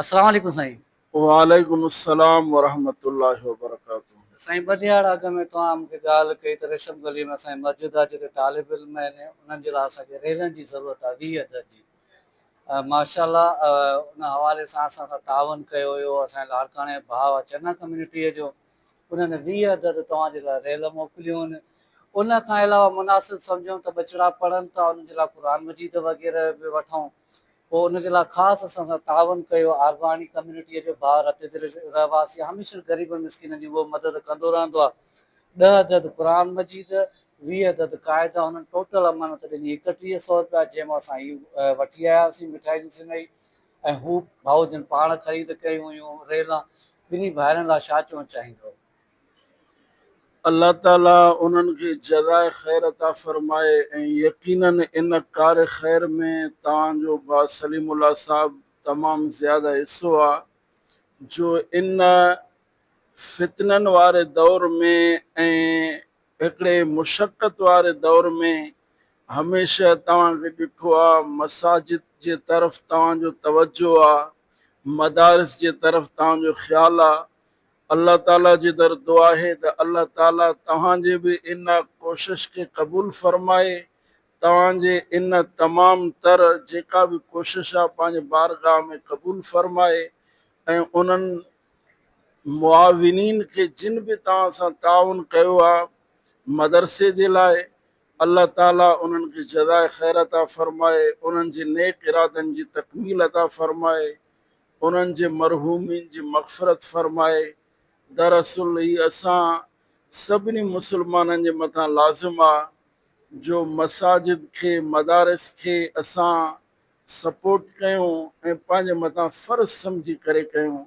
السلام عليڪم سائين. وعليڪم السلام ورحمة الله وبرڪاته. سائين ٻه ڏهاڙا اڳ ۾ توهان مون کي ڳالهه ڪئي ته ريشم گلي ۾ اسان جي مسجد آهي جتي طالب علم آهن انهن جي لاء اسان کي ريلن جي ضرورت آهي ويهه عدد جي ماشاء الله ان حوالي سان اسان سان تعاون ڪيو هيو اسان جي لاڙڪاڻي ڀاء چنا ڪميونٽي جو انهن ويهه عدد توهان جي لاء ريل موڪليون ان کان علاوه مناسب سمجهون ته ٻچڙا پڙهن ٿا انهن جي لاء قرآن مجيد وغيره به وٺون پوء ان جي لاء خاص اسان سان تعاون ڪيو، آرباڻي ڪميونٽيء جو ڀاء رت دل رهواسي هميشه غريبن مسڪينن جي اهو مدد ڪندو رهندو آهي، ڏهه عدد قرآن مجيد، ويهه عدد قاعده، هنن ٽوٽل امانت ڏني ايڪٽيهه سئو رپيا، جنهن مان اسان هي وٺي آياسين مٺائي جي سنئي ۽ هو ڀائو جن پاڻ خريد ڪيون هيون، ريلان ٻنهي ڀائرن لاء ڇا چوڻ چاهيندؤ؟ الله تعالي انهن کي جزاء خير عطا فرمائي ۽ يقيناً ان ڪار خير ۾ توهان جو ڀاء سليم الله صاحب تمام زياده حصو آ جو ان فتنن واري دور ۾ ۽ هڪڙي مشقت واري دور ۾ هميشه توهان کي ڏٺو آ مساجد جي طرف توهان جو توجه آ مدارس جي طرف توهان جو خيال آ الله تعالي جي در دعا آهي ته الله تعالي توهان جي به ان ڪوشش کي قبول فرمائي توهان جي ان تمام تر جيڪا به ڪوشش آهي پنهنجي بارگاهه ۾ قبول فرمائي ۽ انهن معاونين کي جن به توهان سان تعاون ڪيو آهي مدرسي جي لاء الله تعالي انهن کي جزاء خير عطا فرمائي انهن جي نيڪ ارادن جي تڪميل عطا فرمائي انهن جي مرحومين جي مغفرت فرمائي، دراصل هي اسان سڀني مسلمانن جي مٿان لازم آ جو مساجد کي مدارس کي اسان سپورٽ ڪيون ۽ پنهنجي مٿان فرض سمجهي ڪري ڪيون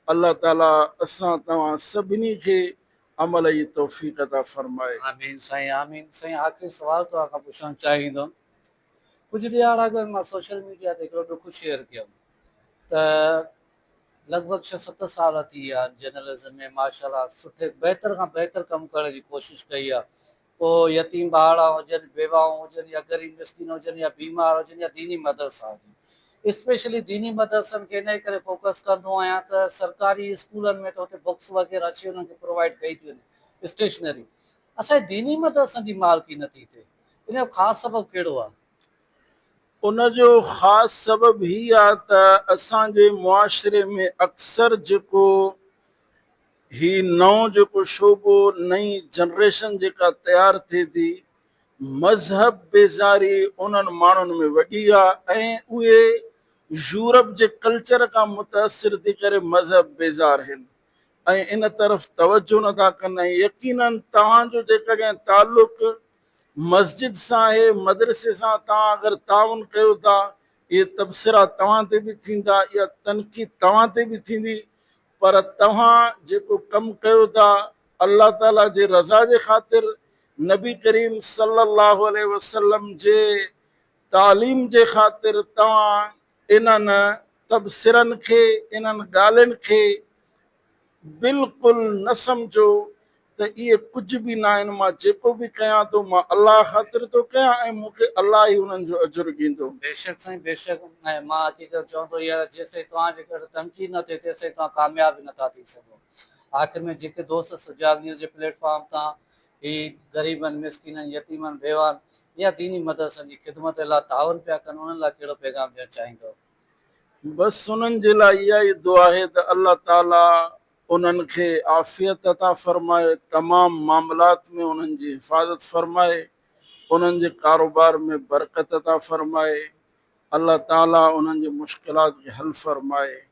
الله تعالي اسان توهان سڀني کي عمل جي توفيق عطا فرمائي. آمين سائين آمين سائين آخري سوال توهان کان پڇڻ چاهيندم ڪجهه ڏهاڙا اڳ مان سوشل ميڊيا تي هڪڙو ڏک شيئر ڪيم ته لڳ ڀڳ ڇهه ست سال ٿي ويا آهن جرنلزم ۾ ماشاءالله سٺي بهتر کان بهتر ڪم ڪرڻ جي ڪوشش ڪئي آهي پوء يتيم ٻارڙا هجن بيواهون هجن يا غريب مسڪين هجن يا بيمار هجن يا ديني مدرسا هجن اسپيشلي ديني مدرسن کي انهي ڪري فوڪس ڪندو آهيان ته سرڪاري اسڪولن ۾ ته اتي بڪس وغيره اچي وڃي انهن کي پرووائيڊ ڪئي ٿي وڃي اسٽيشنري اسان جي ديني مدرسن جي مالڪي نٿي ٿئي ان جو خاص سبب ڪهڙو آهي؟ ان جو خاص سبب هي آهي ته اسان جي معاشري ۾ اڪثر جيڪو هي نئون جيڪو شعبو نئين جنريشن جيڪا تيار ٿئي ٿي مذهب بيزاري انهن ماڻهن ۾ وڏي آهي ۽ اهي يورپ جي ڪلچر کان متاثر ٿي ڪري مذهب بيزار هين ۽ ان طرف توجهه نه ٿا ڪن ۽ يقيناً توهان جو جيڪڏهن تعلق مسجد سان آهي، مدرسي سان، توهان اگر تعاون ڪيو ٿا، اهي تبصرا توهان تي به ٿيندا، اها تنقيد توهان تي به ٿيندي، پر توهان جيڪو ڪم ڪيو ٿا، الله تعاليٰ جي رضا جي خاطر، نبي ڪريم صلّي اللّٰه عليه وسلّم جي تعليم جي خاطر، توهان انهن تبصرن کي، انهن ڳالهين کي بلڪل نه سمجهو ته اهي ڪجهه به ناهن، مان جيڪو به ڪيان ٿو، مان الله خاطر ٿو ڪيان ۽ مون کي الله ئي انهن جو اجر ڏيندو. بيشڪ سائين بيشڪ مان اچي ڪري چوندو هيار جيستائين توهان جي ڪري تنقيد نه ٿئي تيستائين توهان ڪامياب ئي نٿا ٿي سگهو. آخر ۾ جيڪي دوست سجاڳ نيوز جي پليٽ فارم تان هي غريبن، مسڪينن، يتيمن، بيواهن يا ديني مدرسن جي خدمت الا تعاون پيا ڪن انهن لاء ڪهڙو پيغام ڏيڻ چاهيندؤ؟ بس انهن جي لاء اها ئي دعا آهي ته الله تعاليٰ انهن کي عافيت عطا فرمائي، تمام معاملات ۾ انهن جي حفاظت فرمائي، انهن جي ڪاروبار ۾ برڪت عطا فرمائي، الله تعاليٰ انهن جي مشڪلات کي حل فرمائي.